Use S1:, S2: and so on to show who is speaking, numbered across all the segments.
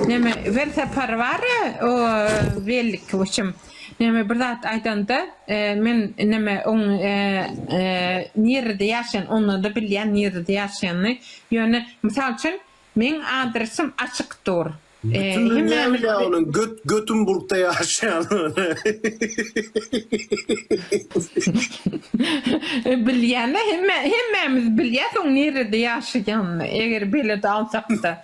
S1: Neme bir sapar bar o bellik hoşum. Neme bir zat aýdanda men neme on nirede ýaşan onda da bilýän nirede ýaşanyny. Ýöne mysal üçin meň adresym açyk dur. Bütün dünýä
S2: bilýä onuň Götümburgda ýaşanyny.
S1: Bilýän hemmämiz bilýäs oň nirede ýaşaýanyny eger belet alsakda.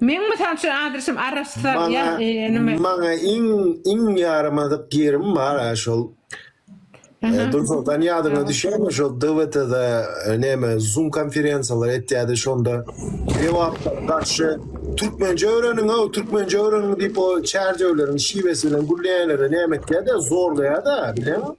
S1: Meň
S2: mysal üçin adresym arassa ýa nime. Maňa iň iň ýaramadyk ýerim bar a şol. Dursultan ýadyňa düşýärmi şol DWT-da näme zoom konferensiýalar etýärdi şonda jogaplara garşy türkmençe öwreniň-a türkmençe öwreniň diýip o çärjewleriň şiwesi bilen gürleýänlere näme etýärdi zorlaýardy bileňmi?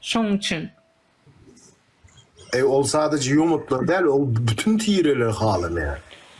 S1: Şoň üçin.
S2: Eý ol sadaje ýomutlar däl ol bütin tireler halamaýar.